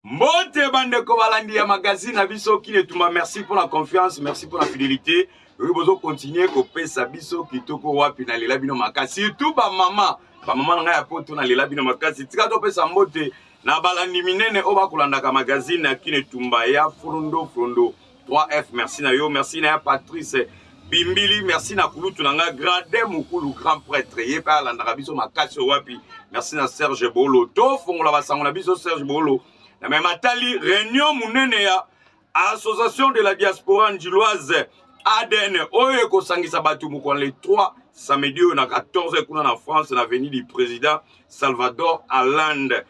Mbote bandeko balandi ya magazine na biso Kin Etumba, merci pour la confiance, merci pour la fidélité. Oyo bozo continuer kopesa biso kitoko wapi na lela bino makasi, surtout ba mama, ba mama na ngai ya poto na lela bino makasi. Tika topesa mbote na balandi minene oyo bakolandaka magazine ya Kin Etumba ya Frondo Frondo. 3F merci na yo merci na ya Patrice bimbili merci na kulutu na nga grade mokulu grand prêtre ye mpe alandaka biso makasi oyo wapi merci na serge bolo tofongola basango na biso serge bolo na meme atali réunion monene ya association de la diaspora njiloise adn oyo ekosangisa bato mokolo le 3 samedi oyo na 14 kuna na france na avenue du président Salvador Allende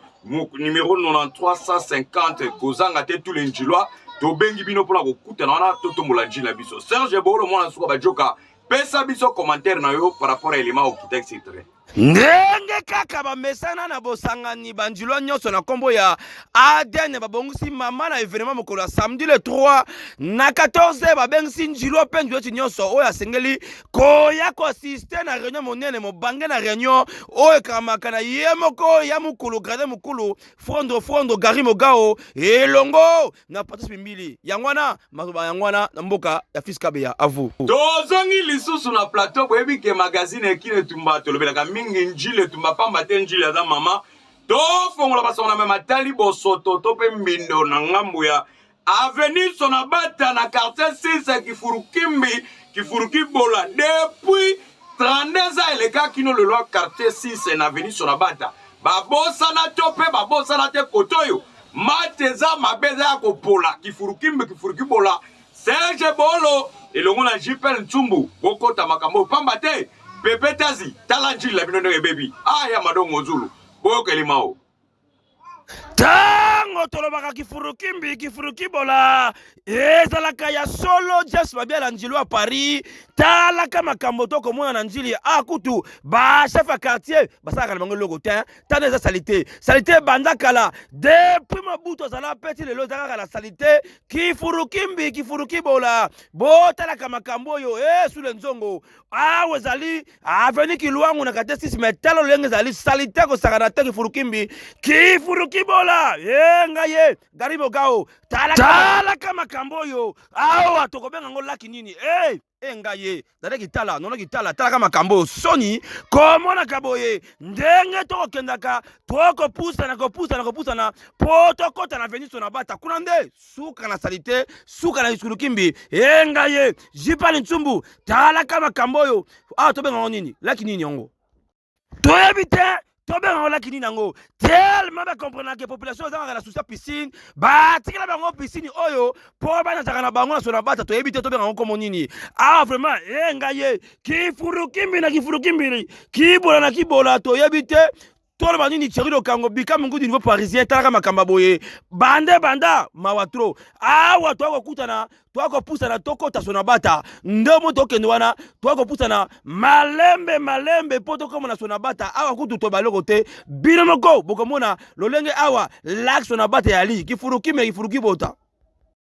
numéro 9350 kozanga te tous les njilois tobengi bino mpona kokutana wana totombola njili na biso serge bolo mwana suka bajoka pesa biso commentaire na yo par rapport ya elema okita etc ndenge kaka bamesana na bosangani banjilwa nyonso na nkombo ya adn babongisi mama na evenema mokolo ya samedi le 3 na 14 babengisi njilwa mpe njilweti nyonso oyo asengeli koya koasiste na reunion monene mobange na reunion oyo ekamaka na ye moko ya mokulu grade mokulu frondo frondo gari mogao elongo na patrice mimbili yango wana maloba yango wana na mboka ya fils kabeya avu tozongi lisusu na plateau boyebi ke magazine ekini etumba tolobelaka mingi njili etumba pamba te njili aza mama tofongola basongo na mema tali bosoto to mpe mbindo na ngambo ya Avenue Sonabata na quartier 6 Kifurukimbi, Kifurukibola depuis 32 ans eleka kino lelo ya quartier 6 na avenue Sonabata. Babosana to mpe babosana te kote oyo mate eza mabe eza ya kopola Kifurukimbi, Kifurukibola Serge Bolo elongo na JPL Ntsumbu bokota makambo pamba te pepetazi tala njila bino ndenge ebebi aya ah, madongo zulu boyoka elimao ntango tolobaka kifurukimbi kifurukibola ezalaka ya solo jas babia na njilo ya paris talaka makambo to komona na njili a kutu bachef ya quartier basalaka na bango eloko te tana eza salite salite ebanda kala depuis mabutu azala peti lelo eza kaka na salite kifurukimbi kifurukibola botalaka makambo oyo e eh, sule nzongo awa ezali aveni kilwangu na kate sisi me tala lolenge ezali salite kosakana te kifurukimbi kifurukibola ye ngai ye gari bogao talaka makambo oyo awa tokobenga yango laki nini e e ngai ye dada kitala nono kitala talaka makambo oyo soni komonaka boye ndenge tokokendaka tokopusana kopusana kopusana mpo tokɔta na veniso na bata kuna nde suka na salite suka na lisukulu kimbi enga ye jipali nsumbu talaka makambo oyo awa ah, tobenga yango nini laki nini yango toyebi te tobenga yango laki nini yango tellement bacomprenake population ezangaka na susa piscine batikela bango piscine oyo mpo banazaka na bango na sona bata toyebi te tobenga yango nkomo nini awa ah, vraiment enga ye kifurukimbi na kifurukimbi kibola na kibola toyebi te toloba nini Thierry Lokango bika mungu du niveau parisien talaka makamba boye bande banda mawa trop awa to kokutana to kopusana to kota sona bata ndomo to kende wana to kopusana malembe malembe po to komona sona bata awa kutu to baloko te bino moko bokomona lolenge awa lak sona bata ya li kifuruki me kifuruki bota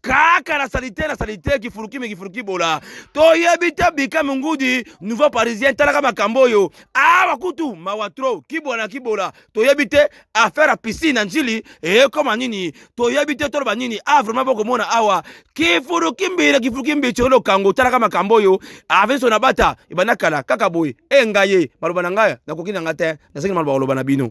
kaka na salite na salite kifuruki me kifuruki bola toyebi te bika mongudi nouveau parisien talaka makambo oyo awa kutu mawa tro kibola na kibola toyebi te affaire ya piscine na njili ekoma nini toyebi te toloba nini a ah, vraiment bokomona awa kifuruki mbila kifuruki mbi colo kango talaka makambo oyo avenso na bata ebanda kala kaka boye engaye maloba na ngai nakoki na ngai te nasengi maloba koloba na bino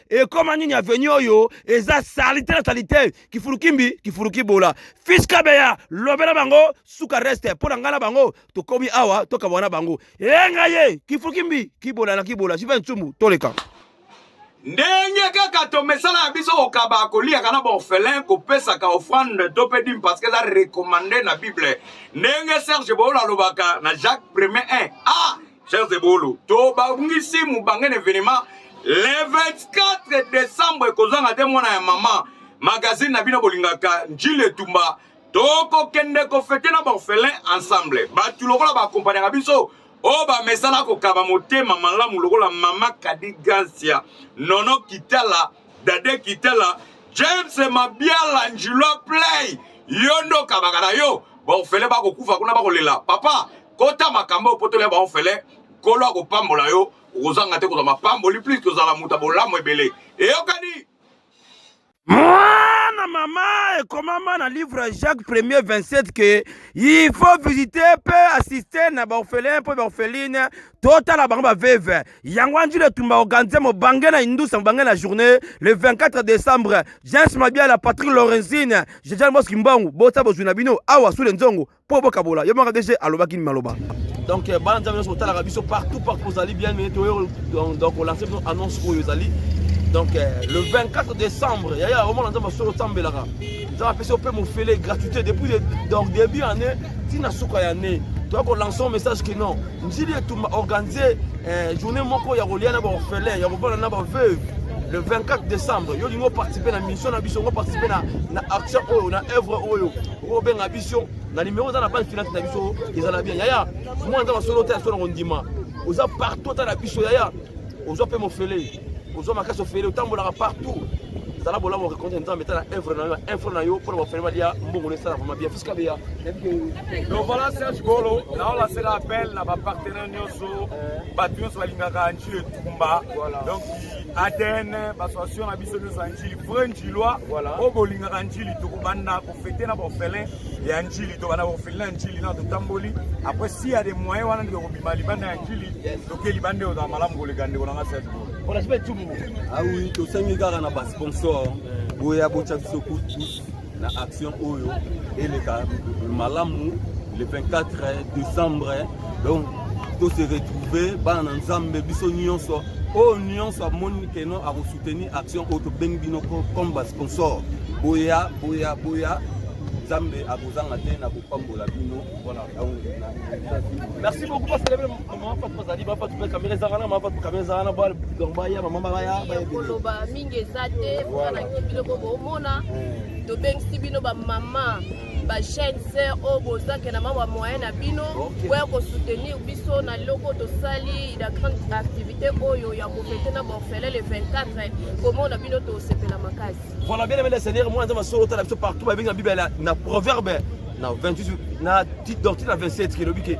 ekoma nini aveni oyo eza salite na salite kifulukimbi kifulukibola fiskabeya lobela bango suka reste mpo na ngai na bango tokomi awa tokabwana bango eyenga ye kifulukimbi kibola na kibola jiva nsumu toleka ndenge kaka tomesala ya biso kokaba koliaka na baorphelin kopesaka offrande to mpe dime parce que eza recommande na bible ndenge serge boolo alobaka na jacques premier 1 a ah! Chers Ebolo, tobangisi mubange na evenement le 24 décembre ekozanga te mwana ya mama magazine na bino bolingaka njili etumba tokokende kofete na baorphelin ensemble bato lokola baakompagnaka biso oyo bamesana kokaba motema malamu lokola mama kadi gansia nono kitala dade kitala james mabiala njilwa play yo nde okabaka na yo baorphelin bakokufa kuna bakolela papa kota makambo opotoli ya baofele nkolo akopambola yo okozanga te kozwa mapamboli plus kozala moto ya bolamu ebele eyokani mwana mama ekomama na livre ya jacques premier 27 ke il faut visite mpe assiste na baorphelin mpe baorpheline totala bango baveve yango anjili etumba organise mobange na indusa mobange na journée le 24 décembre james mabiala patrick lorenzine jejal moski mbongo bota bozwi na bino awa sule nzongo po bokabola yo maka dg alobaki ni maloba donc euh, bana nzambe nyonso kotalaka biso partout partout ozali bien mene toyo donc olanse biso annonce oyo ezali donc euh, le 24 décembre yaya omona nzambe solo osambelaka nzambe apesi ope mofele gratuité depuis donc début année ntina suka ya année toya kolancer un message que non njili etumba organise euh, journée moko ya kolia na baorphelin ya kobala na baveuve le 24 décembre yo olingi oparticipe na mission na biso ongo participe na, na action oyo na œuvre oyo obenga biso na nimero oza na base finance na biso ezala bien yaya mwana nzambe solo te asolo na kondima oza partout ata na biso yaya ozwa mpe mofele ozwa makasi ofele otambolaka partout zala bolamu orekonte nzambe etala evre na yo info na yo mpo na bafele balia mbongo na esala vraimen bien fiska beya donc voilà serge golo naolasela appel na bapartenaire nyonso bato nyonso balingaka nji etumba donc aden basoation na biso nyonso ya nji vrai njilois voilà. oyo bolingaka njili tokobanda kofete na baorphelin ya njili tobanda baorphelin ya njili na totamboli après si ya de moyen wana nde tokobima libanda ya njili toke libanda oyo ozala malamu koleka ndeko nanga serge awi ah tosengi kaka na basponsor boya botya biso kutu na action oyo eleka malamu le 24 décembre donc to se retrouver bana na nzambe biso nyonso oyo nyonso amoni keno akosoutenir action oyo tobengi bino comme basponsor boya boya boya nzambe akozanga te na kopambola bino merci beaucoup mafatu bazali bafatu mpe kamera ezanga na mafatu kamera ezanga na bal donc baya bamama baya koloba mingi eza te mwanaki biloko bomona eh. tobengisi bino bamama bachaine sœur oyo bozake na mamwa moyen na bino boya kosoutenir biso na loko tosali la grande activité oyo ya kofete na borfele le 24 komona bino tosepela makasi voilà bien aimé le seigneur mwana nzambe asolo otala biso partout babenga bibele na proverbe na 28 na titre doctrine na 27 elobi ke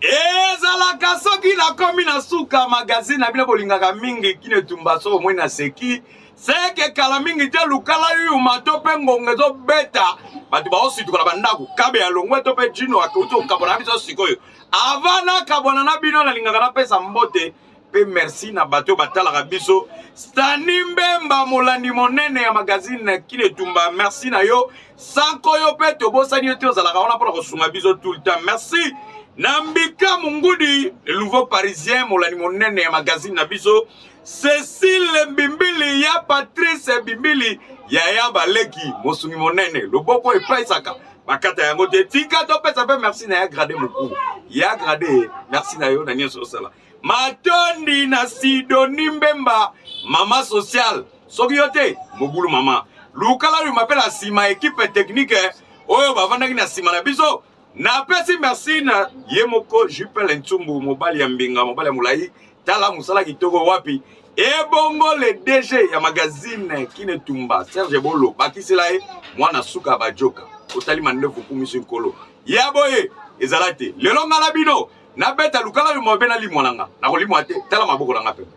ezalaka soki nakomi na suka magazine na bino bolingaka mingi kino etumba soko moi naseki seke kala mingi te lukala yuma to mpe ngonga ezobeta bato baosituka na bandako kabe ya longwe to mpe jino akeuti kokabwana na biso sikoyo avant nakabwana na bino nalingaka napesa mbote mpe merci na bato oyo batalaka biso stani mbemba molandi monene ya magazine kinetumba merci na yo sanko yo mpe tobosani yo te ozalaka wana mpona kosunga biso tout le temps merci na mbika mongudi nouveau parisien molandi monene ya magazine na biso cecile mbimbili ya patrice mbimbili yaya baleki mosungi monene loboko epaisaka bakata yango te tika topesa mpe merci na ya grade mokulu ya grade merci na yo na nyonso osala matondi na sidoni mbemba mama social soki yo te mobulu mama lukala oyo mapela nsima ekipe teknike oyo bavandaki na nsima na biso napesi merci na ye moko jupele ntsumbu mobali ya mbinga mobali ya molai tala mosala kitoko wapi ebongo le dg ya magazine kinetumba serge bolo bakisela ye mwana suka bajoka otali mandefu kumisi nkolo ya boye ezala te lelo ngai na bino nabeta lukala yo mabe nalimwa na nga nakolimwa te tala maboko na nga pembe